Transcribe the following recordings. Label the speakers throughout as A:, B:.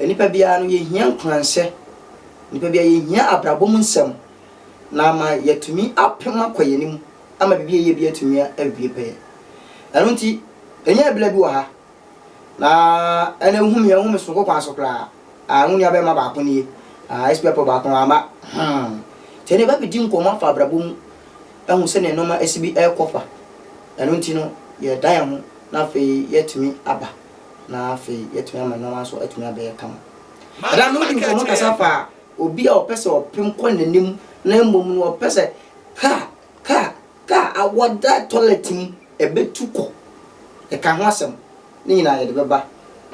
A: Nnipa biara no, yɛhia nkuranhyɛ. Nnipa biara, yɛhia abrabɔ mu nsɛm na ama yɛatumi apem akɔ yɛn anim ama biribi a yɛyɛ bi atumi awie pɛyɛ. Ɛno nti, ɛnyɛ ɛberɛ bi wɔ ha na ɛna ehu me ehu me sononko kwan so koraa. Ah, wo nuabɛrima baako nie. Ah, SP April baako no wamma. Hmm. Sɛ ne ba bɛdi nkɔmmɔ afa abrabɔ mu ahu sɛdeɛ nneɛma asi bi rekɔ fa. Ɛno nti no, yɛda yɛn ho na afei yɛatumi aba. na afei yɛatumi ama nneɛma nso atumi abɛyɛ kama. Ɛda no wodi nkɔmmɔ kasa fa obi a ɔpɛ sɛ ɔpem kɔ n'anim na mmom no ɔpɛ sɛ kaa kaa kaa a wɔda tɔlɛt mu ɛbɛtu kɔ. Yɛka ho asɛm. Ne nyinaa yɛde bɛba.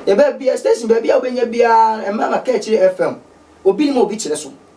A: Yɛbɛ bia station baabi a wobɛnya biara mma ma kaa akyire FM. Obi nim a obi kyerɛ so.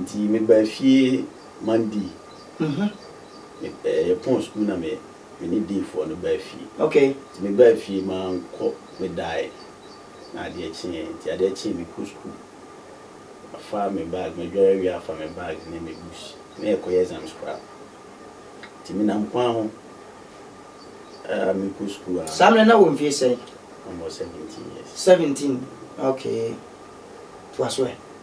B: Nti me baa fie Monday, yɛ pɔn school na me ne dean foɔ no baa fie. Nti me baa
A: fie ma
B: nkɔ me daeɛ na adeɛ kyeeɛ nti adeɛ kyeeɛ me kɔ school afa me bag ma dware awie afa me bag ne me books na yɛ kɔ yɛ exams koraa nti me nam kwan ho aa me kɔ school aa. Saa mmerɛ na wɔ mfie
A: sɛn? Na mewɔ seventeen
B: years. Seventeen
A: okay toa so ɛ.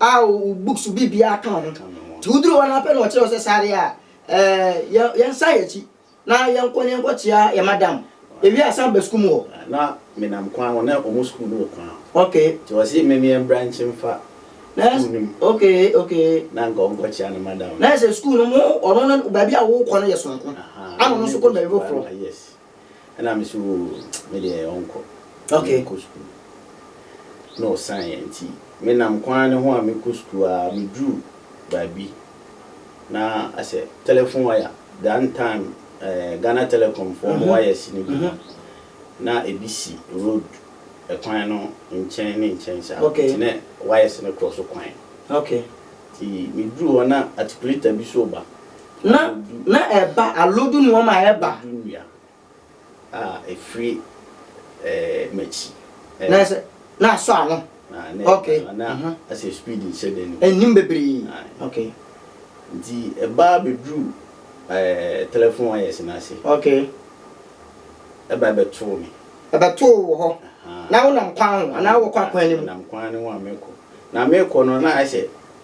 A: a wo books biribiara ka ho nti woduru hɔ no ara pɛ na ɔkyerɛ wo sɛ sare a ɛɛ yɛnsan yɛn akyi na yɛnkɔ na yɛnkɔkyea yɛn madam ewie a san ba sukuu mu hɔ. Na menam
B: kwan hɔ na wɔn sukuu no wɔ kwan hɔ okay nti ɔse
A: me meɛ mbra
B: nkye mfa sukuu no mu okay okay
A: na nka ɔnkɔkyea ne
B: madam no. Na ayɛ sɛ sukuu no mo
A: ɔno no baabi a wokɔ no yɛ sononko ɛna ɔno nso kɔ baabi foforɔ. Ɛna
B: me so oo me deɛ ɔnkɔ. Okay. Menkɔ sukuu. Na ɔsan yɛ nti me nam kwan no ho a mekɔ sukuu a me duru baabi na asɛ telephone wire that time ɛɛ Ghana telecom foɔ ɔmo wires no bi no na ebi si road ɛkwan no nkyɛn ne nkyɛn saa. Okay. Nti na wires no cross kwan. Okay.
A: Nti me
B: duru hɔ na atikuleta bi so ba. Na,
A: na ɛba, alodu nnoɔma a ɛba. Alodu nnua
B: a ɛfiri ɛɛ m'akyi. Ɛɛ. Na ɛsɛ,
A: na asɔ ano. Na, na ɛba, okay, na uh-huh. ɛsɛ
B: speed nhyɛ da nnim. Ɛnnim bebree, aye.
A: okay. Nti
B: ɛba bɛduru ɛɛ telephone wires no ase. Okay. Ɛba ɛbɛtoo me. Ɛbɛtoo wo wɔ hɔ. Uh-huh.
A: Na wonam kwan ho, anaa wokɔ akwan no mu? Menam kwan no ho a mekɔ.
B: Na mekɔ no, na ayɛ sɛ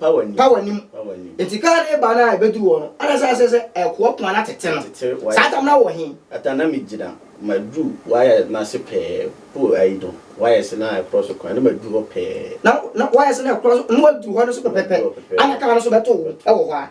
A: pa w'anim nti kaa no ba no a ɛbɛduru hɔ no ana sɛ sɛ sɛ ɛkoa poma no atete no saa tam no wɔ he ata na megyina
B: maduru wayɛ no ase pɛɛ po ayi no wayɛ se na ɛkorɔ so kwan na maduru hɔ pɛɛ na wayɛ se na
A: ɛkorɔ so na waduru hɔ no so pɛpɛpɛ ana kaa no so bɛto wo ɛwɔ hɔ a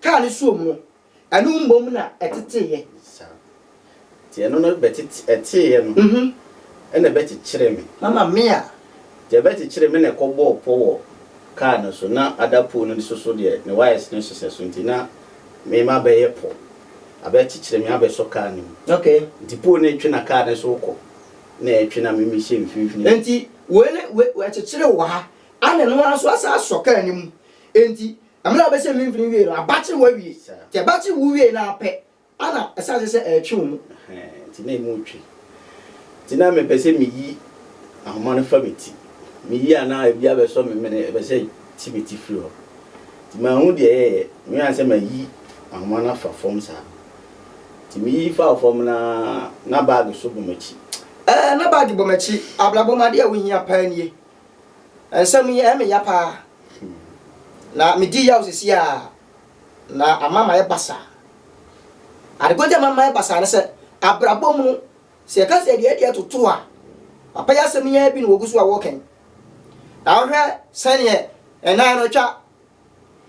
A: Kaa no soom no, ɛno mmom na ɛteteeɛ. Saa.
B: Enti ɛno no bɛtete, ɛteeɛ no, ɛnna ɛbɛkyekyeree me. Mama me a. Enti
A: ɛbɛkyekyeree
B: me na ɛkɔbɔɔ pɔ wɔ kaa no so. Ná adapoo no nso so deɛ, ne wires no hyehyɛ so nti, na me ma abɛyɛ pɔ. Abɛkyekyere me abɛsɔ kaa no mu. Okay. Enti poo
A: no retwe na
B: kaa no nso rekɔ, na ɛretwe na me mehyɛ mfimfini. Enti wei ne,
A: wei, ɛkyekyeree wɔ ha, ɛnna ɛno ara nso asan asɔ kaa no mu. Enti Na mmerɛ a wɔbɛsɛ mfimfini wiee no, abakye hɔ awie. Nti abakye wu wiee no ara pɛ, ɛna ɛsan sɛ sɛ ɛretwe wɔn mu. Ɛhɛɛ, nti na emu
B: retwe. Nti na mepɛ sɛ meyi ahoma no fa me ti. Meyi a na ebi abɛsɔ me mene, ɛpɛ sɛ ɛte me ti firi hɔ. Nti manhu deɛ ɛyɛeɛ, mehwɛ ara sɛ mayi ahoma no afa fam saa. Nti meyi faa fam no ara, na bag nso bɔ m'akyi. Ɛɛ, na bag
A: bɔ m'akyi. Abrabɔ mu adeɛ a wohia paa nie. Nsɛm yi ɛyɛ me ya paa. Na me di yaw sisi a na ama ma yɛ basa. Adekodi ama ma yɛ basa ne sɛ abrabɔ mu no sɛ yɛka sɛ deɛ deɛ toto a papa yɛ asɛm yɛ bi na wɔgu so a wɔkɛn. Na wohwɛ sɛneɛ ɛnan no twa.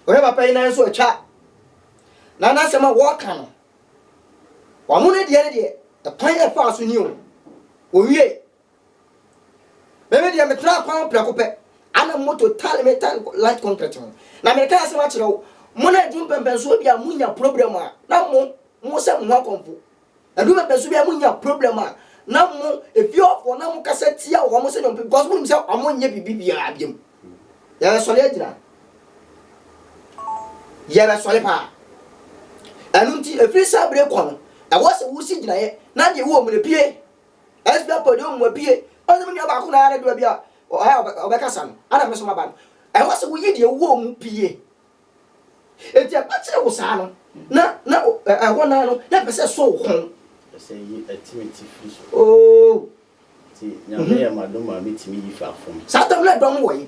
A: Wohwɛ papa yi nan nso atwa. Na n'asɛm a wɔka no wɔn ne deɛ ne deɛ ɛkwan yɛ faa so ni o. Wɔwie Me me deɛ metenaa kwan ho prɛko pɛ ana moto tale me tan light concrete ho na mereka asɛm akyerɛ wo mo na ɛdu mpɛmpɛnsoɔ bi a monya problem a na mo mo sɛ mo ho akɔmfo ɛdu mpɛmpɛnsoɔ bi a monya problem a na mo efie hɔfoɔ na mo kasa tia wɔn mo sɛ nyɔmpe because mo nim sɛ wɔn nyɛ biribi biara biam yɛbɛsɔre agyina yɛbɛsɔre paa ɛno nti efiri saa bere kɔ no ɛwɔ sɛ wosi gyinaeɛ na deɛ wɔ mmerɛ pie SP akɔ deɛ ɔmmu apie. Ɔsɛ me nua baako na ara dua bi a ɔha a ɔbɛkasa no ana me so maba no. Ɛwɔ sɛ woyi deɛ wowɔ mu pie. Enti ɛba kyere wo saa no na na ɛhɔ naa no na ɛpɛ sɛ ɛsɔ wo kɔn. Ɛsɛ yi ɛte
B: me tifi so. Ooh.
A: Nti
B: Nyame yɛ m'adom a me tumi yi fa fam. Saa dɔm no ɛdɔm wɔ yi.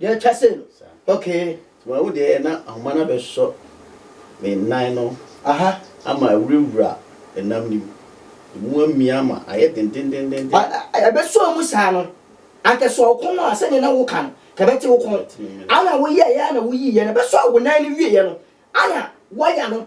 A: Deɛ ɛtwa sei no, okay, nti mawu deɛ na
B: ahoma no abɛsɔ me nan no aha ama
A: awurawura
B: ɛnam no mu,
A: ɛmu
B: amia
A: ama
B: ayɛ
A: dendendenden. Ɛbɛsɔɔ
B: mu saa
A: no, anka sɛ ɔko no a, sɛdeɛ na woka no, ka ɛbɛte wo kɔn. Ana woyɛeɛ ara na woyiiɛ no, ɛbɛsɔɔ wo nan no wieeɛ no, ana woaya no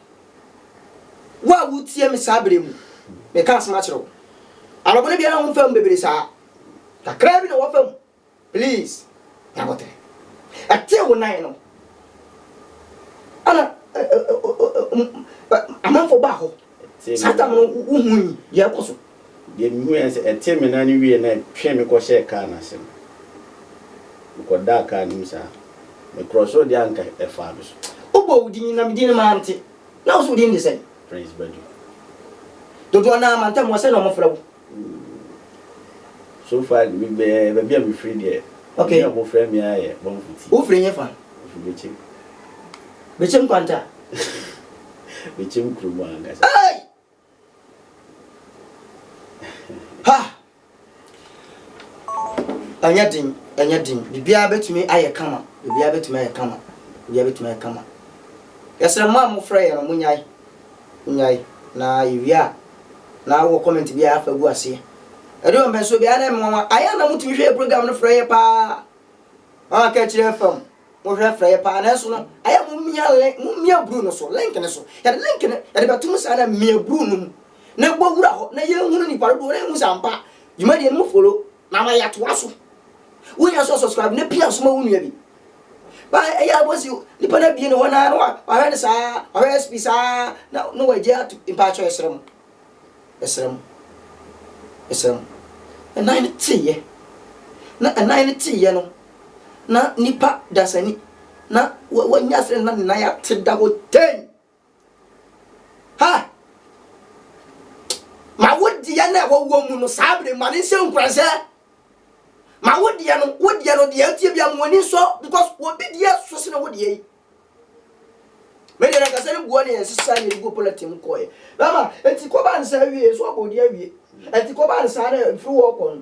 A: Wo a woretie me saa berɛ mu, meka asɛm akyerɛ wo. Anɔpa no biara womfaa mu bebree saa. Kakraa bi na woafa mu. Please, nya abɔterɛ. Ɛtee wo nan no, ɛna amanfoɔ baa hɔ. Saa tam no wohui deɛ ɛrekɔ so. Deɛ mehuiɛ ne
B: sɛ, ɛtee me nan no wieeɛ na ɛtwee me kɔhyɛɛ kaa no ase no, mekɔdaa kaa no mu saa. Me krɔsoo deɛ anka ɛfaa me so. Wobɔɔ wo din na me
A: din no mante, na wo nso wo din de sɛn? Prince Badu. Dodoɔ no ara mantam wo a, sɛn na wɔfrɛ wo?
B: So far me bɛɛ baabi a mefiri deɛ, Okay. din a wɔfrɛ me
A: ara yɛ
B: Bɔmfo Ti. Wofiri he fa?
A: Mefiri Bekyem. Bekyem Kwanta?
B: Bekyem kurom ankasa. Ei!
A: Ha! Ɛnyɛ den, ɛnyɛ den. Biribiara bɛtumi ayɛ kama. Biribiara bɛtumi ayɛ kama. Biribiara bɛtumi ayɛ kama. Yɛsrɛ mmaa a mofrɛ yɛn no, monyae. Monyae. Na yɛwie a, na wowɔ comment biara afa gu aseɛ. Ɛde wɔ mpɛnsoɔ biara na ɛmmoawa. Ayɛ a na motumi hwɛ yɛ program no frɛ yɛ paa. Wɔn a ka akyire fam. Mohwɛ frɛ yɛ paa nanso no ayɛ mo mia link mo mia bruu no so link no so yɛde link no yɛde bɛto mo saa na mia bruu no mu na bɔ wura hɔ na yɛn hunu nipa dodoɔ na yɛn hu sɛ ampa dwumadie no mo folo na ama yɛatoa so wo nya so subscribe na pia soma wo nua bi ba ɛyɛ abɔsi nipa no abie ne hɔ na na wahwɛ no saa wahwɛ sp saa na na wagye ato mpakyɛ ɛsrɛ mo Mesrɛ mo. Mesrɛ mo. Ɛnan no teeɛ, na ɛnan no teeɛ no, na nipa dasani, na wanya aseɛ na ne nan ate da hɔ tɛnn. Ha! Ma wo deɛ na ɛwɔ wɔ mu no saa bere ma ne nhyɛ nkuranhyɛ. Ma wo deɛ no, wo deɛ no deɛ ɛteɛ bia ma w'ani nsɔ because obi deɛ so sene wo deɛ yi. Media no ankasa no bua ne yɛn nsesa a yɛde gu pɔlɛten mu kɔeɛ. Bɛma, ɛnti kɔbaa no saa wie, so abɔ odi awie. Ɛnti kɔbaa no saa no, mfiri wɔ kɔ no,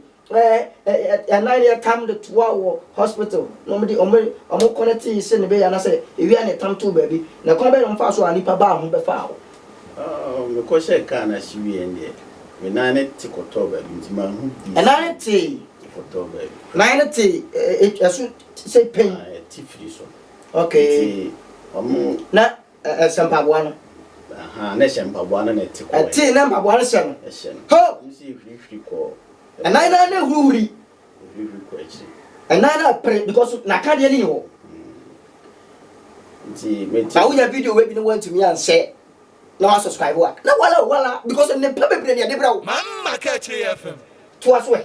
A: yɛn nan no yɛtam de toa wɔ hospital, na wɔn de, wɔn, wɔn kɔnɛtee sɛ ne bɛyɛ anasɛ ewia na yɛtam too baabi. Na kwan bɛn na wɔn faa so a nnipa baa ho bɛfaa hɔ? Oh, me kɔ hyɛɛ kaa
B: no ase wie no deɛ, me nan no te kɔtɔɔ baabi, nti manhu bi sɛ. Nan no tee.
A: Ɛkɔtɔɔ baabi.
B: Nan no tee,
A: ɛso sɛ pain. Ɛte firi so.
B: Okay. Nti
A: ɔmo.
B: Na
A: ɛhyɛ mpaboa no. Ahaa na ɛhyɛ
B: mpaboa no na ɛte kɔɛ. Ɛte na mpaboa no hyɛ no. Ɛhyɛ
A: no. Ho! Ɔmo si
B: ehurihuri kɔ. Ɛnan naa na ehurihuri.
A: Ehurihuri kɔ akyiri. Ɛnan naa pere because n'akadeɛ no nni hɔ.
B: Nti meti. Na wonya video wei bi na wantumi
A: anhyɛ na wasubscribe a na wala o wala because nnepa bebree na yɛde brɛ wo. Mamma Kakyire
C: FM. Toa so ɛ.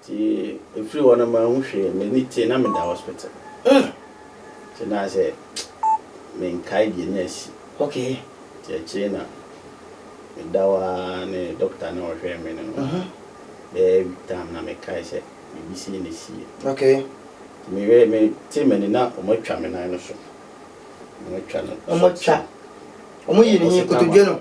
A: Nti
B: ɛfiri hɔ no manhu hwee, m'ani tee na meda hospital ah nti na sɛ menkae deɛ na asi. Okay. Nti
A: akyire na
B: meda hɔ ara ne doctor no a ɔhwɛɛ me no ma bɛyɛ week time na mekae sɛ biribi sei na asiiɛ. Okay.
A: Nti meyɛɛ
B: metee m'ani na wɔn atwa me nan no so, wɔn atwa no so. Wɔn atwa, wɔn
A: yii ne he nkotodwe no.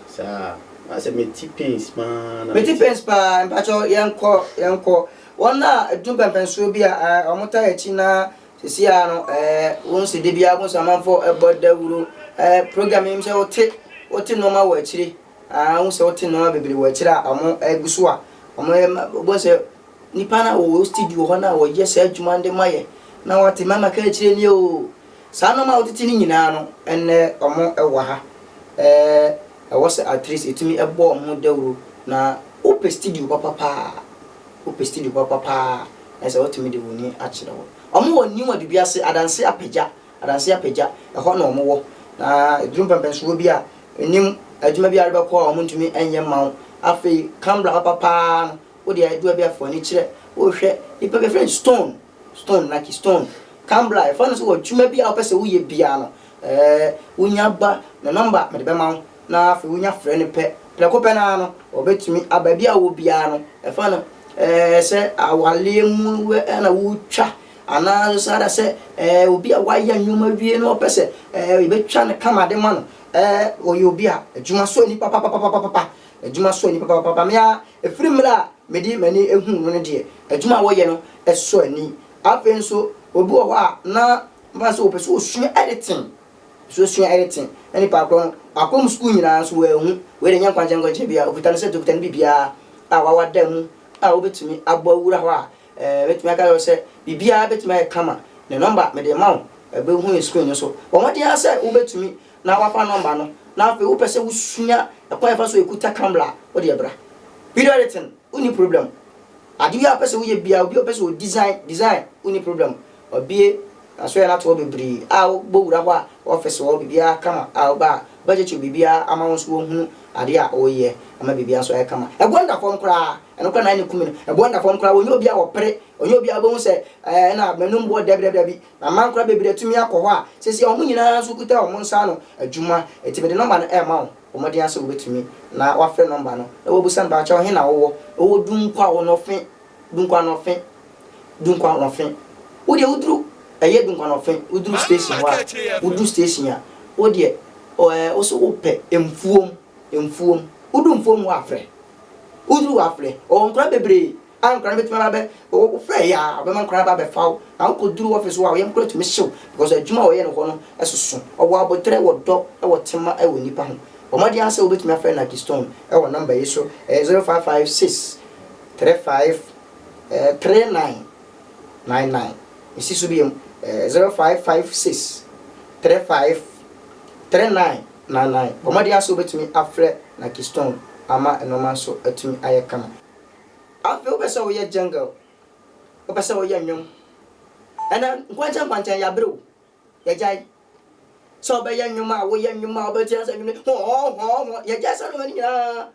B: Saa na sɛ me te pains paa na me te. Me te pains paa mpakyɛw
A: yɛnkɔ yɛnkɔ wɔn a ɛdun pɛnpɛnsoɔ bi a ɛɛ wɔn taa akyi na sisi a no ɛɛ wɔn si de bi a wɔn sɛ amanfo ɛbɔ dawuro ɛɛ program yi sɛ wɔte wɔte nneɛma wɔ akyire aa wɔn sɛ wɔte nneɛma bebree wɔ akyire a wɔn ɛgu so a wɔn ɛɛ ma wɔn sɛ nipa na wɔ studio hɔ na wɔyɛ saa adwuma de ma yɛ na wɔte mɛma ka akyire nie oo Saa nnoɔma a wotiti no nyinaa no ɛnnɛ ɔmo wɔ ha ɛwɔ sɛ atleast yɛtumi bɔ ɔmo ho dawuro na wopɛ studio papa paa wopɛ studio papa paa na sɛ wotumi de wɔn ani akyerɛ hɔ ɔmo wɔ new adubi ase adanse apagya adanse apagya ɛhɔ na ɔmo wɔ na ɛduru mpɛmpɛnsoɔ bi a nim adwuma bi arebɛkɔ a ɔmo ntumi ɛnyɛ ma wo afei kambra papa paa no wode adua bi afɔ ani kyerɛ wohwɛ nipa bi afrɛ stone Stone na ki stone kan bla yɛfrɛ no sɛ wɔ adwuma bi a wopɛ sɛ woyɛ biara no ɛɛ wonya ba ne nɔmba mede bɛma wo na afei wonya frɛ no pɛ prɛko pɛ no ara no ɔbɛtumi a baabi a wowɔ biara no ɛfa no ɛɛ sɛ awareɛ mu ɛɛ na wotwa anaa nso saa da sɛ ɛɛ obi a wayɛ nneɛma wie no ɔpɛ sɛ ɛɛ yɛbɛtwa no kama de ma no ɛɛ ɔyɛ obi a adwuma sɔ nipa papapapapa Adwuma sɔ ani papaapa. Me ara, ɛfiri mmerɛ a mede m'ani huu no no deɛ, adwuma a wɔyɛ no sɔ ani. Afei nso, obi wɔ hɔ a, na mfa no sɛ ɔpɛ sɛ ɔsua editing, ɔpɛ sɛ ɔsua editing, na nipa korɔ no, wakɔ mu sukuu nyinaa nso wanhu. Wei deɛ ɛnyɛ nkwankyerɛ nkwankyerɛ biara, ɔkuta no set, ɔkuta no biribiara a wawada mu a wobɛtumi abɔ awura hɔ a, ɛɛ, mɛtumi aka akyerɛ wo sɛ, biribiara bɛtumi ayɛ kama. Ne nɔmba, mede rema wo, bɛhu no screen no so. Bɔ mmɔden ara sɛ wobɛtumi. na woafa nɔmba no, na afei wopɛ sɛ wosua kwan a yɛfa so kuta camera a, wo deɛ bra. Video editing, wonni problem. Ade biara a wopɛ sɛ woyɛ biara, obi a ɔpɛ sɛ ɔdesign, design, wonni problem. Wɔabue asoɛeɛ no ato hɔ bebree a wobɔ wura hɔ a, office wɔ hɔ, biribiara kama a woba a, wobɛgye kyew biribiara ama wo nso wɔahunu adeɛ a woreyɛ, ama biribiara nso ayɛ kama. Ɛboɔ no da fam koraa, ɛno koraa na ɛne kum me no. Ɛboɔ no da fam koraa, ɔnyɛ obiara a ɔpere, ɔnyɛ obiara a wobɛhu sɛ ɛɛ na m'anum boɔ dɛbidɛbi, dabi. Amankora bebree atumi akɔ hɔ a seesei wɔn nyinaa nso kuta wɔn nsa ano adwuma. Enti mede nɔmba no rema wo. Bɔ mmɔden ara sɛ wubetumi na woafrɛ nɔmba no na woabisa no, Pakyɛw, he na wowɔ? Mewɔ Dunkwa Onɔfe, Dunkwa Anɔfe, Dunkwa Anɔfe. Wo deɛ woduru, ɛyɛ Dunkwa Anɔfe, woduru station hɔ a, woduru station a, wo deɛ, ɛɛ, wo se wopɛ Mfuom, Mfuom. Woduru Mfuom hɔ a, frɛ. Woduru hɔ a, frɛ. Wɔwɔ nkora bebree a nkwadaa no bɛtumi aba bɛ wo wofrɛ yɛ a ɔbɛma nkwadaa aba abɛfa wo na wokɔduru office hɔ a wo yam koraa tumi hye wo because adwuma a ɔyɛ no hɔ no soso ɔwɔ aboterɛ wɔ dɔ wɔ tema wɔ nnipa ho bɔ mmɔden ara sɛ wobɛtumi afrɛ Nagi Stone wɔ number yi so ɛyɛ 0556 35 3999 mesi so biom 0556 35 3999 bɔ mmɔden ara sɛ wobɛtumi afrɛ Nagi Stone ama nnoɔma nso atumi ayɛ kama. Afei wopɛ sɛ woyɛ jungle, wopɛ sɛ woyɛ nnwom. Ɛnɛ nkwankyɛn nkwankyɛn yɛabrɛ o, yɛagyae. Sɛ wobɛyɛ nnwom a, woyɛ nnwom a wobɛte asɛ nnwom no hɔɔ hɔɔ hɔɔ. Yɛagyae saa nneɛma no nyinaa.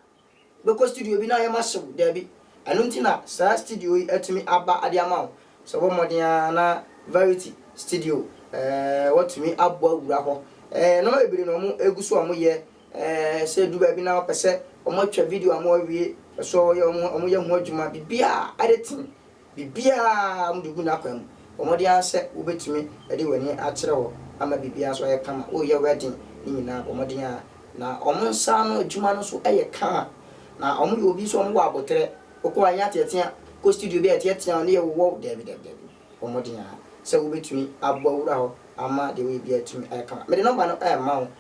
A: Bɛkɔ studio bi na ayɛ ma hyew, daabi. Ɛno nti na saa studio yi atumi aba de ama wo. Sɛ wobɔ mmɔden a na Verity Studio, ɛɛ, woatumi abɔ awura hɔ. Ɛɛ, nneɛma bebree na wɔgu so a wɔyɛ Sɛ edu baabi na wɔpɛ sɛ wɔtwa video ama wɔawie, wɔpɛ sɛ wɔyɛ wɔn wɔyɛ ho adwuma, biribiara, editing, biribiara wɔde gu n'akwan mu. Bɔ mmɔden ara sɛ wubetumi de w'ani akyerɛ hɔ ama biribiara nso ayɛ kama. Woreyɛ wedding ne nyinaa, bɔ mmɔden ara. Na wɔn nsa ano adwuma no nso yɛ kama. Na wɔyɛ obi nso a wɔwɔ aboterɛ. Wokɔ hɔ a ɛnyɛ ateatea, kɔ studio bi a yɛteatea wo na yɛwowɔ wo, daabi, daabi, daabi. Bɔ mmɔden ara sɛ wubetumi abɔ awura hɔ ama deɛ woreyɛ biara atumi ayɛ kama. Mede nɔmba no rema wo.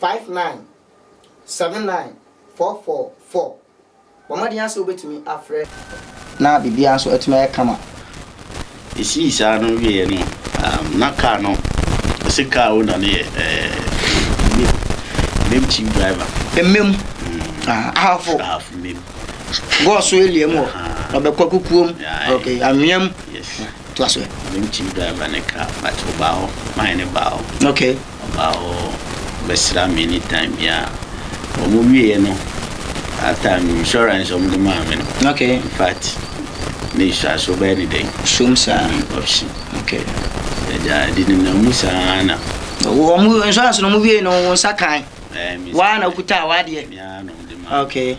A: five nine seven nine four four four. Bɔ mmɔden ara sɛ wobɛtumi afrɛ na biribiara nso atumi ayɛ kama.
B: Ɛsii saa no wieeɛ no, um, na kaa no, ɛsɛ kaa owner no yɛ eh, mem chief driver. Mmem, mm.
A: ah, ahafo. Ahafo mmem.
B: Gɔɔso
A: elia mu hɔ, ɔbɛkɔ kukuom, ok, anweam. Yes. To
B: aso.
A: Mem chief driver ne
B: kaa, but ɔbaa hɔ, maa ne baa hɔ. Ok. Ɔbaa
A: hɔ
B: bɛsraa me anytime biara. Wɔn wieɛ no, that time no insurance a wɔn de maa me no. Okay. In fact, ne insurance so bɛyɛ ne dɛn? Sum saa. Mm,
A: option.
B: Okay.
A: Ɛgya ɛde
B: nenam mu saa na. Wɔn
A: insurance no wɔn wieɛ no wɔn nsa kan. Ɛɛ, me nsa. Waa na okuta a wadeɛ. Me ara na wɔn de maa me.
B: Okay.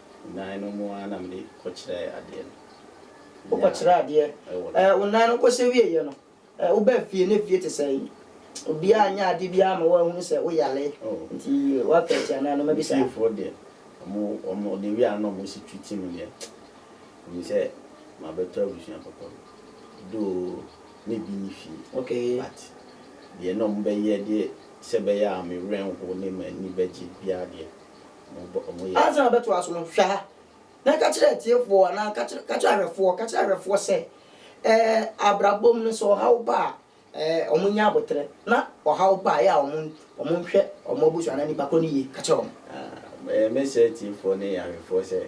B: Nnan no mu ara na mede kɔkyerɛɛ adeɛ no.
A: Wokɔkyerɛɛ adeɛ ɛɛ wo nnan no kɔhyɛ wieeɛ no ɛɛ wobaa fie na fie te sɛn? Obiara anyɛ adeɛ biara amma woanhunu sɛ woyare nti woaka atia anaa na mabisa? Me fiefoɔ deɛ
B: wɔn wɔn wɔde wieeɛ ara na wɔsi twi ti me deɛ menim sɛ mabɛtɔ abusua papa bi though me bi nni fie Okay. but deɛ na wɔbɛyɛ de sɛ ɛbɛyɛ a me werɛ renho ne m'ani bɛgye biara deɛ Ansa na wobɛtoa so no,
A: hwɛ ha, na ka kyerɛ atiefoɔ anaa ka kyerɛ, ka kyerɛ ahwɛfoɔ, ka kyerɛ ahwɛfoɔ sɛ, ɛɛ, abrabɔ mu no, sɛ ɔhaw ba a, ɛɛ, wɔnyɛ aboterɛ, na ɔhaw ba a, ɛyɛ a wɔn, wɔnhwɛ wɔn abusua anaa nnipa korɔ no yie. Ka kyerɛ wɔn. Ɛɛ, mɛsrɛ
B: atiefoɔ ne ahwɛfoɔ sɛ,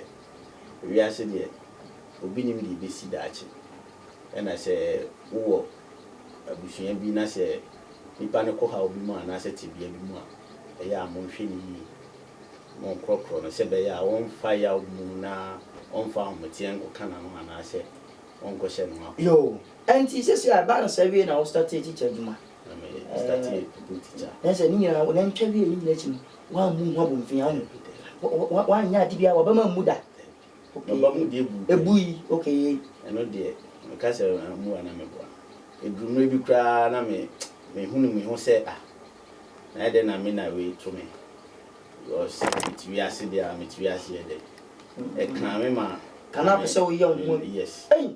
B: wiase deɛ, obi nnim deɛ ɛbɛsi daakye. Ɛna sɛ wowɔ abusua bi na sɛ Nnipa no kɔ haw bi mu anaasɛ tebea bi mu a, ɛyɛ a monhwɛ no yiye. Monkorɔkorɔ no sɛ ɛbɛyɛ a ɔremfa yaw bi mu na ɔmfa ahometeɛ nkɔka n'ano anaasɛ ɔnkɔhyɛ ne ho akɔ. Yoo ɛnti
A: sɛsi a ɛbaa no saa wiei na wo startee teacher adwuma? Na me startee
B: pupil teacher. Na ɛsɛ ne nyinaa wo
A: nantwa wiei ne nyinaa akyi no woammu ho abomfin ahu? Woanyɛ ade biara w'abam ammu da? Okay. Meba mu
B: deɛ buu. Ebu yi, okay yei.
A: Ɛno deɛ,
B: meka sɛ ammu a na meboa. Ɛduru mmerɛ bi koraa na me mehunu me ho sɛ ah, na ɛyɛ dɛn na me na wei to me because mete wiase deɛ a, mete wiase yɛ dɛ. Ɛkaa me ma. Ka na wopɛ sɛ woyɛ wo
A: ho. Yes. Ei!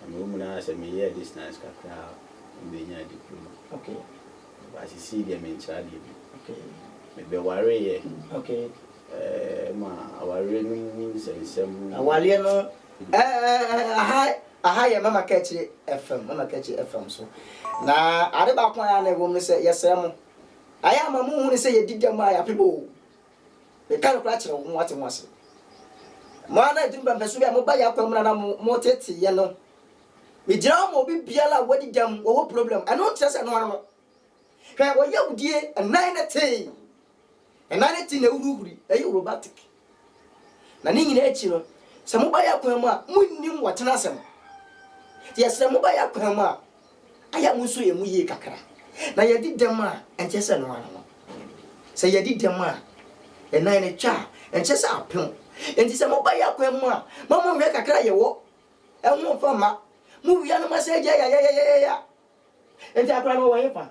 B: Na mewɔ mu no ara sɛ meyɛɛ distance kakra a na menyaa diploma.
A: But sesei
B: deɛ mentra adeɛ bio.
A: Mebɛwareeɛ ma
B: awareɛ no mu nsɛnsɛm. Awareɛ no
A: aha yɛ Mama Kɛkye FM, Mama Kɛkye FM so. Na ade baako a ɛyɛ a na ɛwɔ mu ne sɛ yɛsrɛ mo. Ayɛ a ma monhunu sɛ yɛdi dɛm a yɛapem oo. Meka nokorɛ akyerɛ wo, moate ho ase. Mo ara na ɛde mpɛmpɛsoɔ bi a moba yɛn akwan mu na na mo moteteeɛ no. Megyina hɔ ma obi biara a wadi dɛm, wɔwɔ problem. Ɛno nkyerɛ sɛ ɛno ara no. Hwɛ, wɔyɛ wo die, ɛnan no tee, ɛnan no tee na ɛhurihuri, ɛyɛ robotic. Na ne nyinaa akyi no, sɛ moba yɛn akwan mu a, monnim wɔtena asɛm. Nti yɛsrɛ moba yɛn akwan mu a, Ayɛ mo nso yɛ mo yie kakra. Na yɛadi dɛm a, ɛnkyɛ sɛ ɛno ara no. Sɛ yɛadi dɛm a, yɛn nan no twa a, ɛnkyɛ sɛ apem. Enti sɛ moba yɛn akwan mu a, ma monhwɛ kakra a yɛwɔ ho mfa mma. Mowia no, moasan agyae yayayayaya. Enti akora no, ɔwɔ hefa?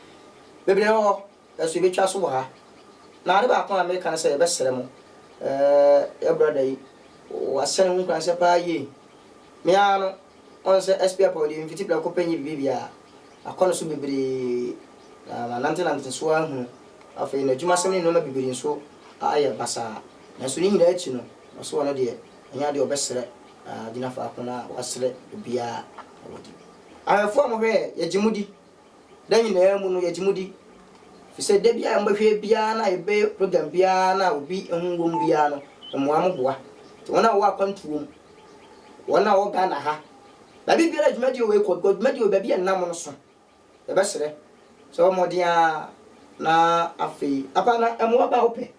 A: Bebree wɔ hɔ, nanso yɛbɛtwa so wɔ ha. Na ade baako a mereka ne sɛ yɛbɛsrɛ mo, eh, yɛn brada yi, wahyɛne ho nkuranhyɛ paa yie. Me ara no, woahu sɛ SP Apaw deɛ memfiti prɛko pɛ nyɛ biribiara. Makɔ ne so bebree, na manantenante so ara ahunu. Afei n'adwumasɛm ne nneɛma bebree nso ayɛ basaa. Nanso ne nyinaa akyi no, ɔse ɔno deɛ, ɛnyɛ adeɛ a ɔbɛsrɛ, na wagyina faako no a wasrɛ obiara na wadi. Awɛmfoɔ a mohwɛ yɛn, yɛgye mo di, Da nyinaa mu no yɛgye mu di, efisɛ da biara a mobɛhwɛ biara na yɛbɛyɛ program biara na obi ho wom biara no, mmoa mo boa. Nti wɔn a wɔwɔ akwantuo mu, wɔn a wɔwɔ Ghana ha, baabi biara a dwumadie wei kɔ, because dwumadie wei baabi a ɛnam no so, yɛbɛsrɛ sɛ wɔmmɔden ara na afei, Apana, mmoa ba a wopɛ.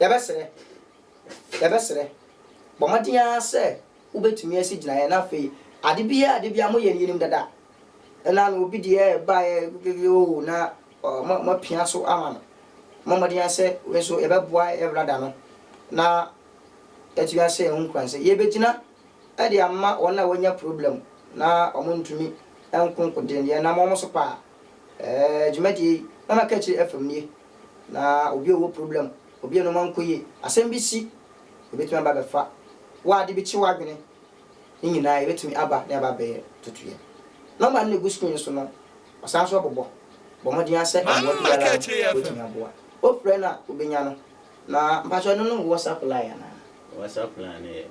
B: Yɛbɛsrɛ, yɛbɛsrɛ, bɔ mmɔden ara sɛ wobɛtumi asi gyinaeɛ na afei ade biara ade biara moyɛ no yɛnim dada na na obi deɛ baeɛ gege o na moapia so ama no. Bɔ mmɔden ara sɛ wei nso yɛbɛboa Evrada no na yɛatumi ahyɛ yɛn ho nkuran sɛ yɛbɛgyina de ama wɔn a wɔanya problem na wɔntumi nko nko deɛ no yɛnam wɔn so paa. Ɛɛ dwumadie yi, Mama Kakyire FM nie. Na obi a ɔwɔ problem, obi a nnoɔma nkɔ yie, asɛm bi si, ɛbɛtumi aba abɛfa wo a ade bi kye w'adwene, ne nyinaa ɛbɛtumi aba na aba abɛyɛ totoeɛ. Nɔma no na ɛgu screen no so no, ɔsan nso bobɔ. Bɔ mmɔden ara sɛ mmoa biara a wobɛtumi aboa. Wofrɛ no a, wobɛnya no. Na mpakyɛ ɛno ne wo WhatsApp line anaa? WhatsApp line no yɛ,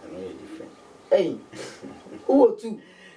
B: ɛno yɛ
A: different. Ei, wowɔ two?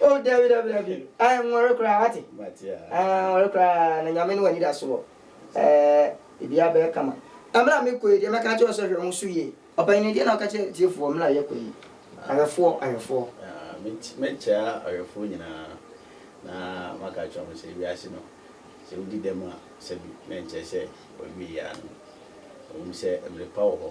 A: Oh dabi dabi dabi eh nwɔre koraa wate eh nwɔre koraa na nyame ne wani da soɔ eh bibia bɛyɛ kama ɛmmerɛ a mekɔ yi deɛ mɛka kyerɛ sɛ hwɛ mo so yie ɔpanyin no deɛ na ɔka kyerɛ tiefoɔ mmerɛ a yɛkɔ yi awɛfoɔ awɛfoɔ.
B: Mɛkyia awɛfoɔ nyinaa na maka kyerɛ wɔn sɛ wiase no sɛ wodi dɛm a sɛbi na nkyerɛ sɛ wɔawie yɛ ano ɛwom sɛ mmerɛ pa wɔ hɔ.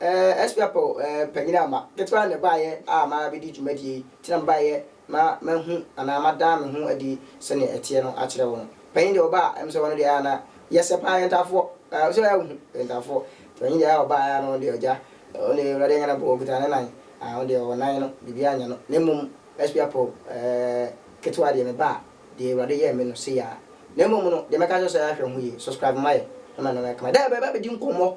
A: Eh SP Apple eh panyin ama. Ketewa na ɛbaeɛ a mabɛdi dwumadie yi, nti na mebaeɛ na mahu anaa madaa me ho adi sɛdeɛ ɛteɛ no akyerɛ wo no. Panyin deɛ ɔba a, ɛm sɛ ɔno deɛ ɛyɛ na yɛsɛ paa, yɛntaafoɔ, ah wo sɛ woayɛ wohu, yɛntaafoɔ. Nti panyin deɛ ɔba a na ɔno deɛ ɔgya, ɔno deɛ Awurade anya no abom, ɔkuta ne nan, ah ɔno deɛ ɔwɔ nan no, biribiara nyɛ no. Na mmom SP Apple eh ketewa deɛ meba a, deɛ Awurade yɛɛ me no, sei ara. Na mmom no, deɛ mɛka akyerɛ wo sɛ ahwɛ ho yie, subscribe ma yɛn na ma nneɛma ayɛ kama. Dɛ bɛba abɛdi nkɔmmɔ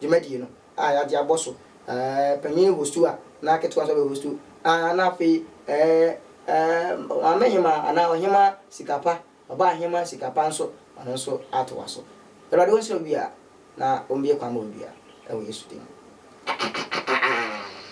A: dwumadie no a yɛagye abɔ so eh, panin hostu a na ketewa nso abɛhostu ah, na afei eh, eh, maame hemaa anaa ɔhemaa sika pa, ɔbaa hemaa sika pa nso, ɔno nso atoa so. Awurade ɔnhyira obiara na ɔmmue kwan ma obiara, ɛwɔ Yesu din mu.